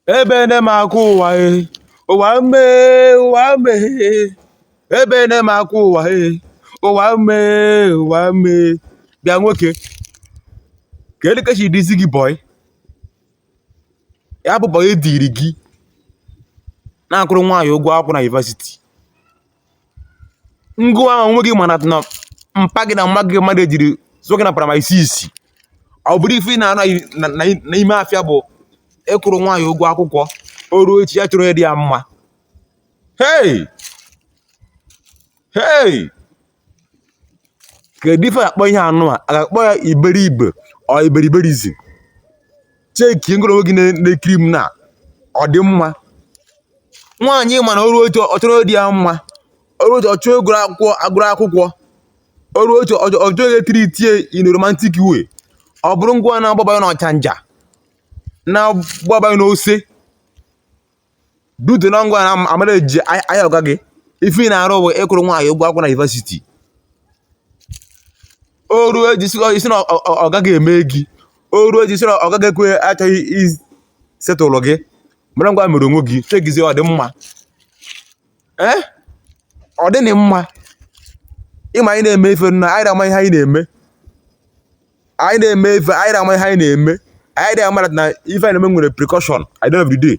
ebe nne m akụ ụwa e ụwa mee ụwa mee ebe nne m akụ ụwa e ụwa mee ụwa mee bịa nwoke kedu ka chi dịzi gị bọị ya bụ bọị diri gị na-akwụrụ nwaanyị ụgwọ akwụkwọ na yunivasiti ngịwa ahụ onwe gị mana na mpa gị na mma gị mmadụ ejiri zụọ gị na praịmarị isii ọ bụrụ ife ị na-anọ n'ime afịa bụ ịkwụrụ nwaanyị ụgwọ akwụkwọ o ruo echi ya chọrọ onye dị ya mma hei hei kedu ife a ga-akpọ ihe anụwa a ga-akpọ ya iberibe or iberiberism cheki ngoro onwe gị na-ekiri m na ọ dị mma nwaanyị mana o ruo echi ọ chọrọ onye dị ya mma o ruo echi ọ chọọ onye gụrụ akwụkwọ o ruo echi ọ chọrọ e treat ya in a romantic way ọ bụrụ ngịwa na-agbaba n'ọchanja na-agbaba n'ose due to na ngịwa na-amanage ahịa ọga gị ife ị na-arụ bụ ịkwụrụ nwaanyị ụgwọ akwụkwọ na yunivasiti o ruo echi ị sị na ọga gị emee gị o ruo echi ị sị na ọga gị ekwe achọghị isetụlụ gị mana ngịwa mere onwe gị chekizie ọ dị mma ee ọ dịghị mma ị ma anyị na-eme ife na anyị na-ama ihe anyị na-eme anyị na-eme ife anyị na-ama ihe anyị na-eme anyị na-amara na ife anyị na-eme nwere repercussion at the end of the day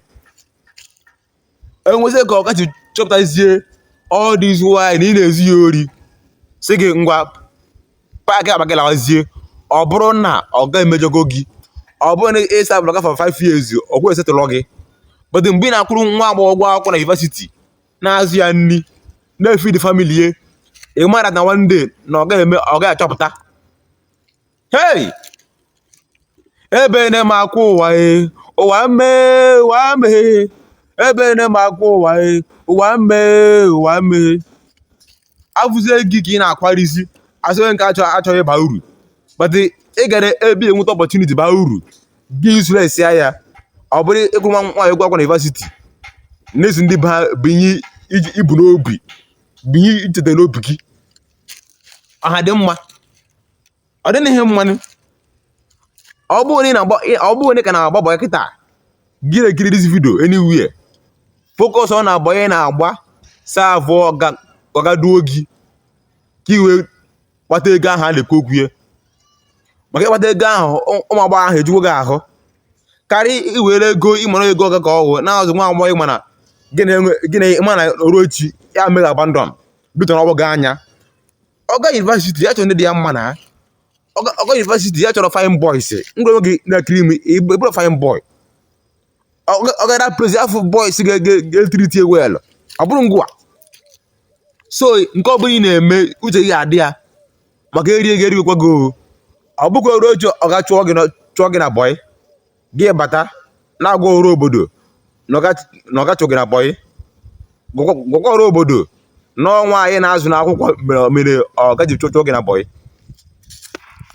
e nwezi ka ọga gị chọpụtazie all this while na ị na-ezu ya ori si gị ngwa paakị akpa gị lawazie ọ bụrụ na ọga gị emejọgo gị ọ bụrụ na ị savụrụ ọga for 5 years o kwero esetụlọ gị but mgbe ị na-akwụrụ nwa agbọghọ ụgwọ akwụkwọ na yunivesiti na-azụ ya nri na-efidi famili ya ị mara na one day na ọga gị ga-achọpụta hey ebe na m akwụ ụwa e ụwa mee ụwa mee ebe na m akwụ ụwa e ụwa mee ụwa mee afụzie gị ka ị na-akwarizi asịghị nke achọ achọghị ịba uru but ị gara ebe ị enweta opportunity baa uru gị useless ya ya ọ bụrụ ịkwụrụ nwaanyị ụgwọ akwụkwọ na yunivasiti n'ezi ndị bụ ihe i bu n'obi bụ ihe i cheta n'obi gị ọha dị mma ọ dịghị ihe mmanụ ọ bụrụ na ị na-agba ọ bụrụ na ị ka na-agba bọị kịta gị na-ekiri dis vidio anywhere focus na bọị ị na-agba savụọ ọga ọga duo gị ka i wee kpata ego ahụ a na-ekwu okwu ya maka ịkpata ego ahụ ụ- ụmụ agbọghọ ahụ ejugo gị ahụ karịa iwere ego ị mara ego ọga ka ọ wụ na-azụ nwa agbọghọ ịma na gị na-enwe gị na ịma na o ruo echi ya mere abandon bitọ na ọgbọ gị anya ọ gaa yunivasiti ya chọrọ ndị dị ya mma na ọ gaa yunivasiti ya chọrọ fine boys ngwa gị na-ekiri m ị bụrọ fine boy ọ ga na-prefer boys ga-etiriti well ọ bụrụ ngwa so nke ọbụla ị na-eme uche gị adị ya maka eri ego erigokwa gị ọ bụkwa o ruo echi ọga chụọ gị na bọị gị bata na-agwa ọra obodo na ọga chụ gị na bọyị gwakwa ọra obodo na ọ nwaanyị ị na-azụ n'akwụkwọ mere ọga ji chụọ gị na bọyị